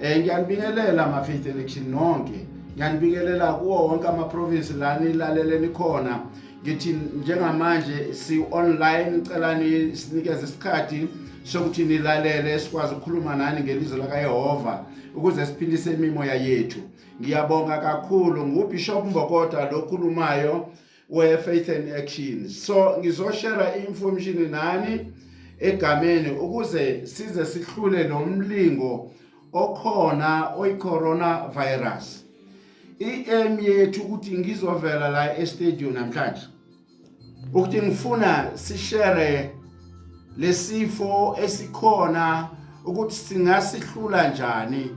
um ngiyanibingelela ma-faith election nonke ngiyanibingelela kuwo wonke amaprovinsi la nilalele nikhona ngithi njengamanje si-online cela sinikeze isikhathi sokuthi nilalele sikwazi ukukhuluma nani ngelizwi lakayehova ukuze siphilise imimoya yethu ngiyabonga kakhulu ngubishop mbokoda lokhulumayo where faith and action so ngizoshare information nani egameni ukuze size sihlule lo mlingo okhona oyicorona virus i-aim yethu ukuthi ngizovela la estadium namhlanje ukuthi ngifuna sishere lesifo esikhona ukuthi singasihlula njani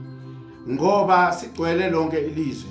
ngoba sigcwele lonke ilizwe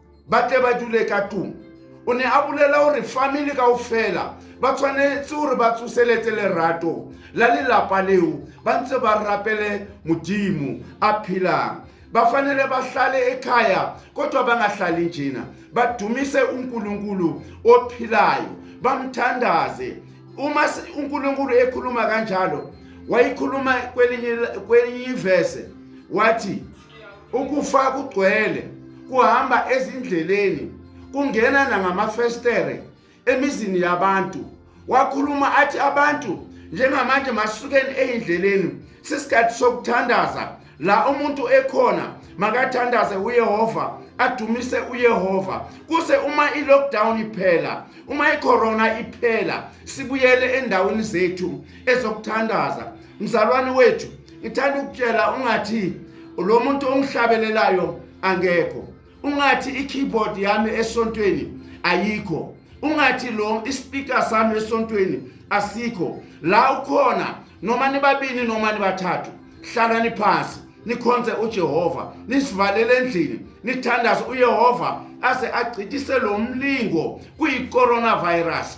ba tle ba dule ka tung o ne a bolela gore family kao fela ba tshwanetse gore ba tsoseletse lerato la lelapa leo ba ntse ba rapele modimo a phelang bafanele bahlale ekhaya kodwa bangahlali njena badumise uNkulunkulu ophilayo bamthandaze uma uNkulunkulu ekhuluma kanjalo wayikhuluma kwelinye kwelinye ivese wathi ukufa kugcwele kuhamba ezindleleni kungena nangamafestere emizini yabantu wakhuluma athi abantu njengamanje masukeni eyindleleni sisikhathi sokuthandaza la umuntu ekhona makathandaze uyehova adumise uyehova kuse uma i-lockdown iphela uma icorona iphela sibuyele endaweni zethu ezokuthandaza mzalwane wethu ngithanda ukutshela ungathi lo muntu ongihlabelelayo angekho ungathi i-keyboard yami esontweni ayikho ungathi lo ispeaker sami esontweni asikho la ukhona noma nibabini noma nibathathu hlalani phansi nikhonze uJehova nisivalele endlini nithandaze uYehova aze agcitise lo mlingo kuyi coronavirus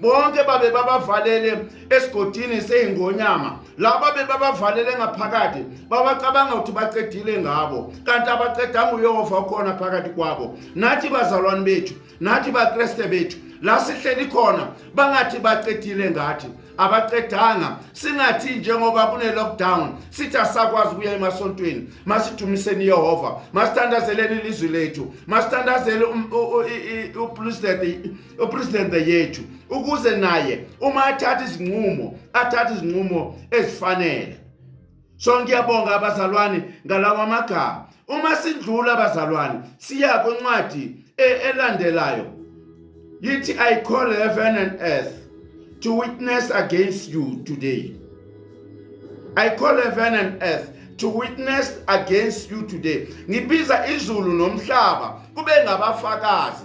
bonke babe babavalele esigodini seyingonyama laba bebabavalele ngaphakathi babacabanga ukuthi baqedile ngabo kanti abaqedanga uyehova ukhona phakathi kwabo nathi bazalwane bethu nathi bakreste bethu la sihleli khona bangathi baqedile ngathi abaqedanga singathi njengoba kune-lockdown sithi asakwazi ukuya emasontweni masidumiseni yehova masithandazeleni ilizwi lethu masithandazele uplusthe upresident yethu ukuze naye uma athatha izinqumo athatha izinqumo ezifanele so ngiyabonga abazalwane ngalawa magama uma sidlula abazalwane siya kwincwadi e-, elandelayo yithi i call heaven and earth to witness against you today i call heaven and earth to witness against you today ngibiza izulu nomhlaba kube ngabafakazi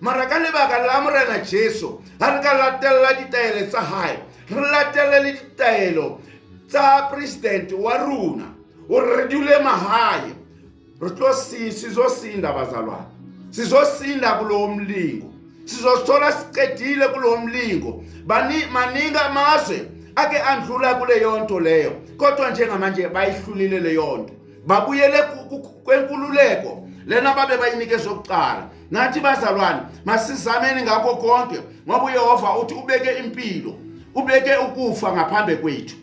mara ka lebaka la morena jesu ga re ka latelela ditaelo tsa gae re latelele le ditaelo tsa presidente wa rona o re dule magae re tlo sizosinda bazalwane sizosinda kulowo mlingo sizosithola siqedile kulowo mlingo maningi amazwe ake andlula kuleyo nto leyo kodwa njengamanje bayihlulile leyo nto babuyele kwenkululeko lena babe bayinike zokuqala ngathi bazalwane masizameni ngakho konke ngoba uyehova uthi ubeke impilo ubeke ukufa ngaphambi kwethu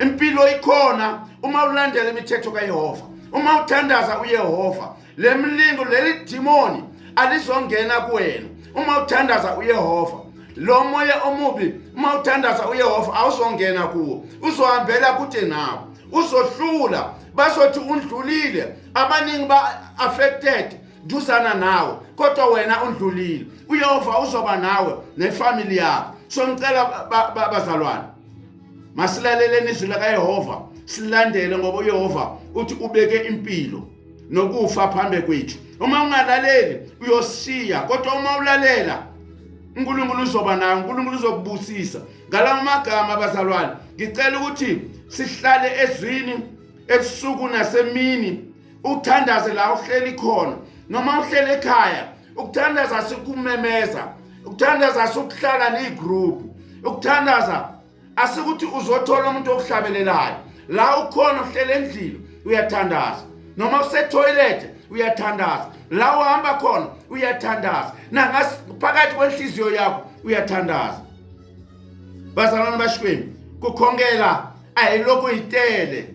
impilo ikhona uma ulandela imithetho kayehova uma uthandaza uyehova le mlingo leli dimoni alizongena kuwena uma uthandaza uyehova lo moya omubi uma uthandaza uyehova awuzongena kuwo uzohambela kude nawo uzohlula bazothi undlulile abaningi ba-affected duzana nawe kodwa wena undlulile uyehova uzoba nawe nefamily yakho so ngicela bazalwane ba, ba, masilaleleni izwi lakayehova silandele ngoba uyehova uthi ubeke impilo nokufa phambi kwethu uma ungalaleli uyosiya kodwa uma ulalela unkulunkulu uzoba nayo unkulunkulu uzokubusisa ngalawo magama abazalwane ngicela ukuthi sihlale ezwini ebusuku nasemini uthandaze la uhleli khona noma uhleli ekhaya ukuthandaza sikumemeza ukuthandaza sikuhlala negroup ukuthandaza asikuthi uzothola umuntu okuhlabelelayo la ukhona uhleli endlini uyathandaza noma usetoilet uyathandaza la uhamba khona uyathandaza nangaphakathi kwenhliziyo yakho uyathandaza bazalwane bashikweni kukhongela ayilokhu itele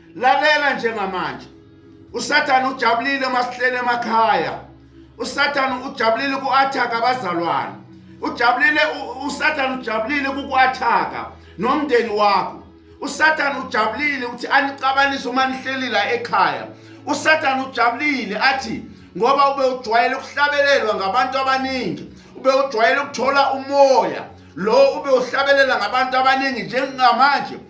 lalela njengamanje usathane ujabulile uma sihlele emakhaya usathane ujabulile ku-athaka abazalwane ujabulile usathane ujabulile kuku-athaka nomndeni wakho usathane ujabulile ukuthi anixabanise uma nihleli la ekhaya usathane ujabulile athi ngoba ube ujwayele ukuhlabelelwa ngabantu abaningi ube ujwayele ukuthola umoya lo ube uhlabelela ngabantu abaningi njengamanje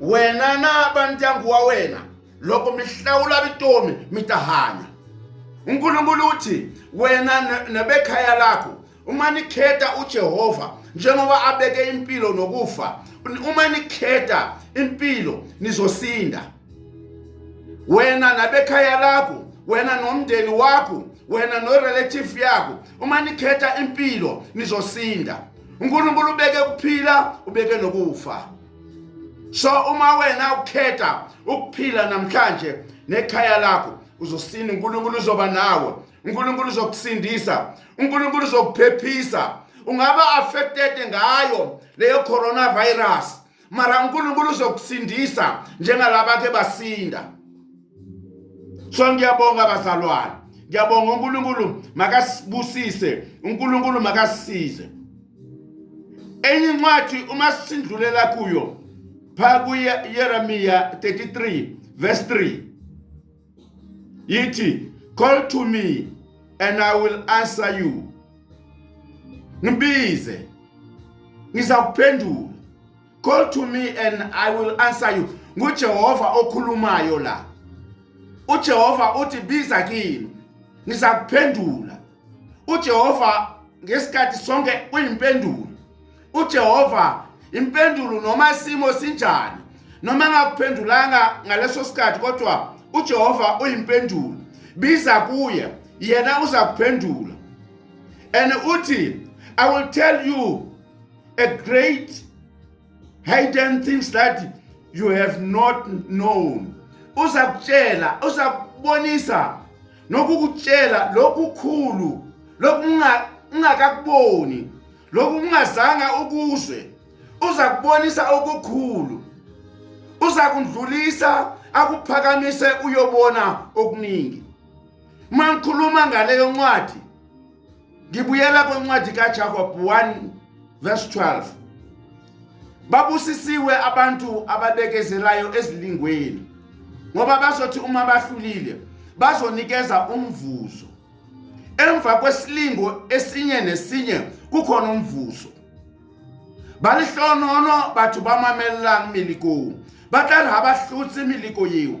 wena na va ndyangu wa wena loko mi hlawula vutomi mi ta hanya unkulunkulu u thi wena nebekhaya lakho uma nikhetha ujehova njengoba abeke impilo nokufa uma nikhetha impilo nizosinda wena nabekhaya lakho wena nomndeni wakho wena norelative yakho uma nikhetha impilo nizosinda unkulunkulu ubeke ukuphila ubeke nokufa so uma wena ukhetha ukuphila namhlanje nekhaya lakho uzosina uNkulunkulu uzoba nawe uNkulunkulu uzokusindisa uNkulunkulu uzokuphephisa ungaba affected ngayo leyo coronavirus mara uNkulunkulu uzokusindisa njengalaba ke basinda so ngiyabonga bazalwane ngiyabonga uNkulunkulu makasibusise uNkulunkulu makasisize enye incwadi uma sindlulela kuyo pha kuYeremiya 33 verse 3 yithi call to me and I will answer you ngibize ngizakuphendula call to me and i will answer you ngujehova okhulumayo la ujehova uthi biza kimi ngiza kuphendula ujehova ngesikhathi sonke uyimpendulo ujehova impendulo noma isimo sinjani noma engakuphendulanga ngaleso sikhathi kodwa ujehova uyimpendulo biza kuye yena uza kuphendula and uthi i will tell you a great hidden things that you have not known uzakutshela uzakubonisa nokukutshela lokukhulu lokungakakuboni lokungazanga ukuzwe uzakubonisa okukhulu uzakundlulisa akuphakamise uyobona okuningi mangikhuluma ngaleyo ncwadi ngibuyela kwencwadi kaJakob 1 verse 12 babusisiwe abantu ababekezelayo ezilingweni ngoba bazothi uma bahlulile bazonikeza umvuzo emva kwesilingo esinye nesinye kukhona umvuzo balihlonono batho ba mamellang melikong ba tla re ga ba hlotse meleko eo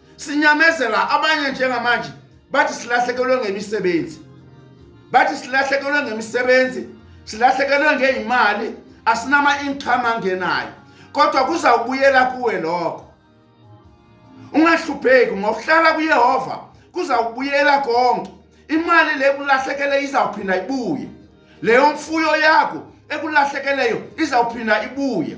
sinyamezela abanye njengamanje bathi silahlekelwe ngemisebenzi bathi silahlekelwe ngemisebenzi silahlekelwe ngeyimali asinama income angenayo kodwa kuza kubuyela kuwe lokho ungahlupheki ngokuhlala kuyehova kuza kubuyela konke imali le kulahlekele izawuphinda ibuye leyo mfuyo yakho ekulahlekeleyo izawuphinda ibuye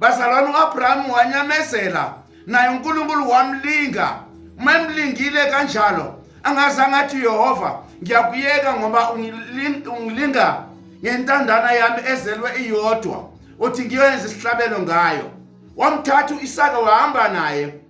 bazalwane u-abrahamu wanyamezela naye unkulunkulu wamlinga uma emlingile kanjalo angazange athi uyehova ngiyakuyeka ngoba ungilinga ngentandana yami ezelwe iyodwa uthi ngiyoyenza isihlabelo ngayo wamthatha u-isaka wahamba naye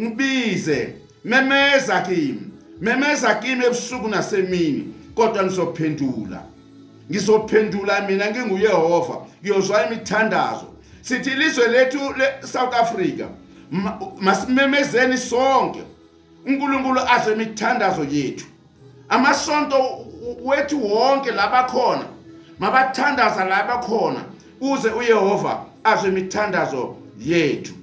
ngibize memeza kimi memeza kimi ebusuku nasemini kodwa ngizophendula ngizophendula mina nginguyehova ngiyozwa imithandazo sithi ilizwe lethu le-south africa masimemezeni sonke unkulunkulu azwe imithandazo yethu amasonto wethu wonke labakhona mabathandaza labakhona kuze uyehova azwe imithandazo yethu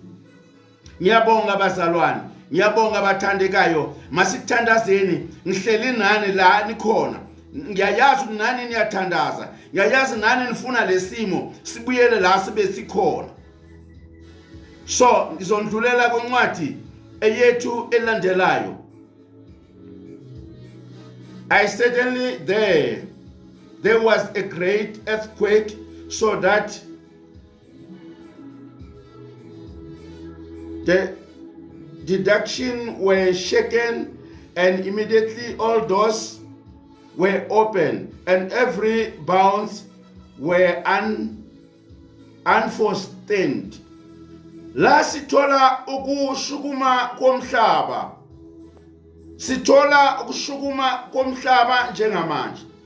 ngiyabonga abazalwane ngiyabonga abathandekayo masithandazeni ngihleli nani la nikhona ngiyayazi ukuthi nani niyathandaza ngiyayazi nani nifuna lesimo sibuyele la sibe sikhona so ngizondlulela kwencwadi eyethu elandelayo I certainly there there was a great earthquake so that The deduction were shaken and immediately all doors were open and every bounce were un unforestaled la sithola ukushukuma komhlaba sithola ukushukuma komhlaba njengamanje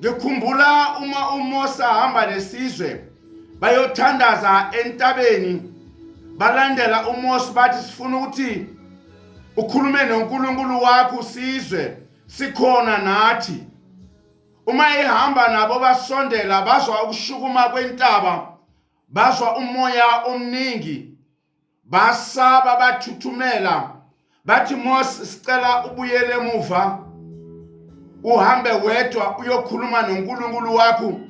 ngikhumbula uma uMose ahamba nesizwe bayothandaza entabeni balandela uMose bathi sifuna ukuthi ukhulume noNkulunkulu wakho usizwe sikhona nathi uma ehamba nabo basondela bazwa ukushukuma kwentaba bazwa umoya omningi basaba bathuthumela bathi Mose sicela ubuyele emuva uhambe wedwa uyokhuluma noNkulunkulu wakho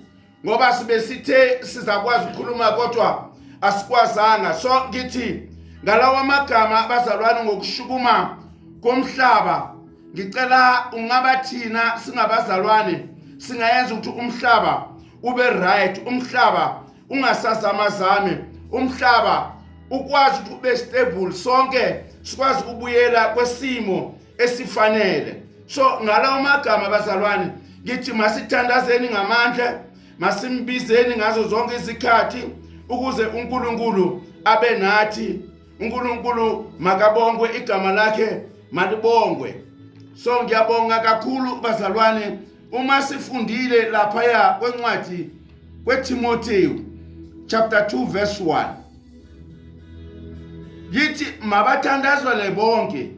ngoba sibe sithe sizakwazi ukukhuluma kodwa asikwazanga so ngithi ngalawa magama abazalwane ngokushukuma komhlaba ngicela ungaba thina singabazalwane singayenza ukuthi umhlaba ube right umhlaba ungasazamazami umhlaba ukwazi ukuthi ube stable sonke sikwazi ukubuyela kwesimo esifanele so ngalawo magama bazalwane ngithi masithandazeni ngamandla masimbizeni ngazo zonke izikhathi ukuze uNkulunkulu abe nathi uNkulunkulu makabongwe igama lakhe malibongwe so ngiyabonga kakhulu bazalwane uma sifundile laphaya kwencwadi kweTimoteyu chapter 2 verse 1 yithi mabathandazwele bonke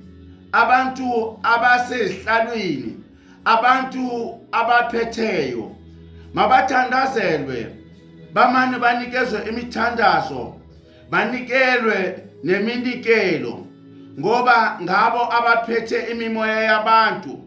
abantu abasezihlalweni abantu abaphetheyo mabathandazelwe bamane banikezwe imithandazo banikelwe neminikelo ngoba ngabo abaphethe imimoya yabantu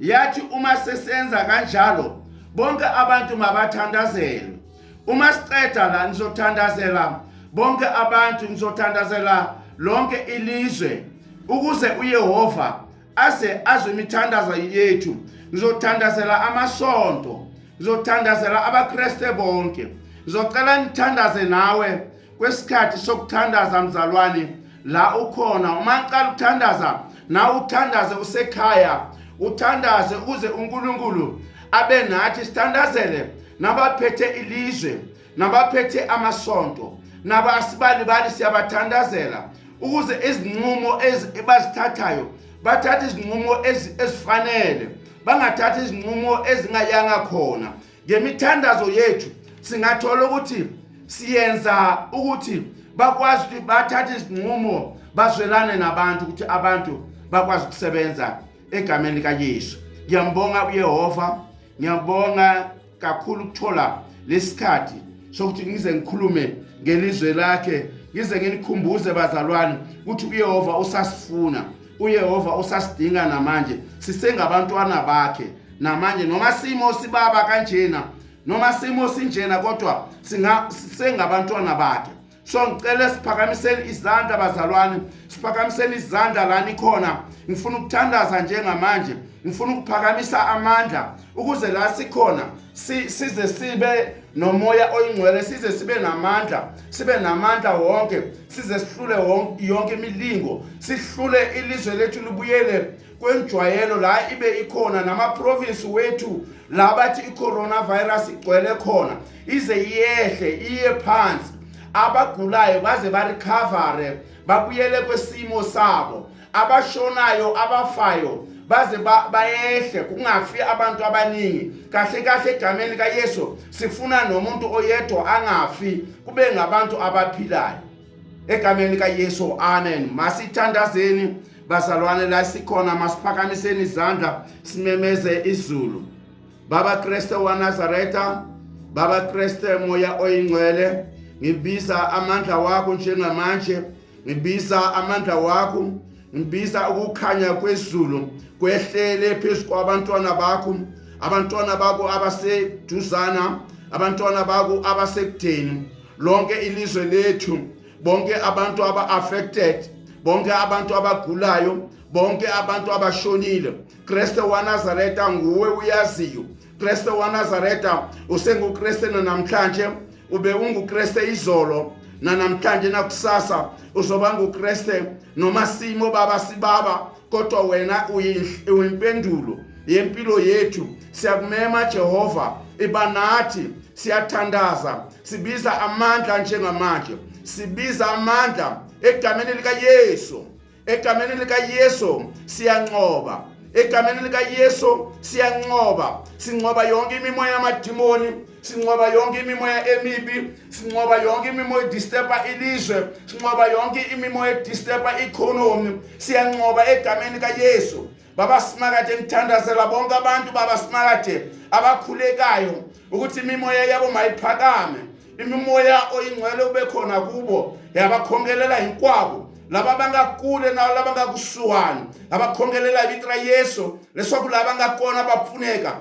yathi uma sesenza kanjalo bonke abantu mabathandazelwe uma siqeda la nizothandazela bonke abantu nizothandazela lonke ilizwe ukuze uYehova aze azwe imithandazo yethu ngizothandazela amasonto ngizothandazela abaKristu bonke ngizocela ngithandaze nawe kwesikhathi sokuthandaza mzalwane la ukhona uma qala ukuthandaza na uthandaze usekhaya uthandaze ukuze uNkulunkulu abe nathi sithandazele nabaphethe ilizwe nabaphethe amasonto naba asibalibali siyabathandazela ukuze izinqumo ezibazithathayo bathathe izinqumo ezifanele bangathathi izinqumo ezingayanga khona ngemithandazo yethu singathola ukuthi siyenza ukuthi bakwazi ukuthi bathathe izinqumo bazwelane nabantu ukuthi abantu bakwazi ukusebenza egameni likaYesu ngiyambonga uYehova ngiyabonga kakhulu ukuthola lesikhathi sokuthi ngize ngikhulume ngelizwe lakhe ngize nginikhumbuze bazalwane ukuthi uYehova usasifuna uYehova usasidinga namanje sisengabantwana bakhe namanje noma simo sibaba kanjena noma simo sinjena kodwa singa sengabantwana bakhe so ngicela siphakamiseni izandla bazalwane siphakamiseni izandla lani khona ngifuna ukuthandaza njengamanje ngifuna ukuphakamisa amandla ukuze la sikhona size sibe nomoya oyingcwele size sibe namandla sibe namandla wonke size sihlule yonke imilingo sihlule ilizwe lethu libuyele kwenjwayelo la ibe ikhona namaprovinsi wethu la bathi i-coronavirus igcwele khona ize iyehle iye phansi abagulayo baze barikhavare babuyele kwesimo sabo abashonayo abafayo baze bayehle kungafi abantu abaningi kahle kahle egameni kaYesu sifuna nomuntu oyedwa angafi kube ngabantu abaphilayo egameni likayesu amen masithandazeni bazalwane la sikhona masiphakamiseni izandla simemeze izulu baba kreste wanazaretha baba kreste moya oyingcwele ngibiza amandla wakho njengamanje ngibiza amandla wakho ngibiza ukukhanya kwezulu kwehlele phezu kwabantwana bakho abantwana bakho abaseduzana abantwana bakho abasekudeni lonke ilizwe lethu bonke abantu aba affected bonke abantu abagulayo bonke abantu abashonile Kristo waNazaretha nguwe uyaziyo Kristo waNazaretha usenguKristo namhlanje ube unguKristo izolo nanamhlanje nakusasa uzoba nguKristo noma simo baba sibaba kodwa wena uyimpendulo yempilo yethu siyakumema Jehova iba nathi siyathandaza sibiza amandla njengamanje sibiza amandla egameni likaYesu egameni likaYesu siyanqoba egameni likaYesu siyanqoba sinqoba yonke imimoya yamadimoni sinqoba yonke imimoya emibi sinqoba yonke imimoya edisturba ilizwe sinqoba yonke imimoya edisturba economy siyanqoba egameni kaYesu baba simakade ngithandazela bonke abantu baba simakade abakhulekayo ukuthi imimoya yabo mayiphakame imimoya oyingcwele ube khona kubo yabakhongelela inkwabo laba bangakule nawo laba ngakusuwani abakhongelela ibitra yesu leswaku laba ngakona bapfuneka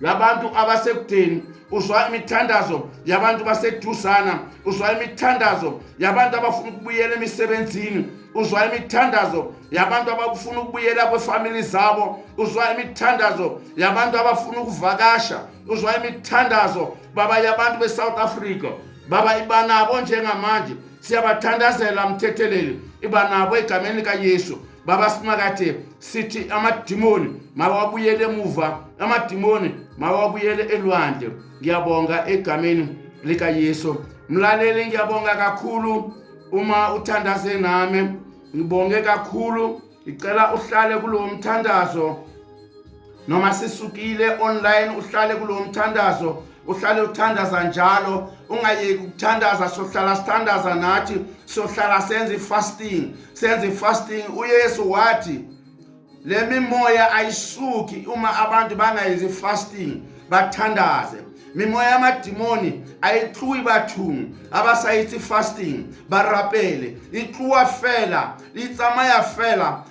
labantu abasekudeni uzwa imithandazo yabantu baseduzana uzwa imithandazo yabantu abafuna ukubuyela emisebenzini uzwa imithandazo yabantu abafuna ukubuyela kwefamili zabo uzwa imithandazo yabantu abafuna ukuvakasha uzwa imithandazo baba yabantu besouth africa baba iba nabo njengamanje siyabathandazela mthetheleli iba nabo egameni likayesu baba simakade sithi amadimoni mawabuyele emuva amadimoni mawabuyele elwandle ngiyabonga egameni likayesu mlaleli ngiyabonga kakhulu uma uthandaze nami ngibonge kakhulu ngicela uhlale kulowo mthandazo noma sisukile online uhlale kulo mthandazo uhlale uthandaza njalo ungayeki ukuthandaza sohlala sithandaza nathi sohlala senza i-fasting senza i-fasting uyesu wathi le mimoya ayisuki uma abantu bangayenzi i-fasting bathandaze mimoya yamadimoni ayitluwi bathungu abasayithi fasting barapele itluwa fela itsamaya fela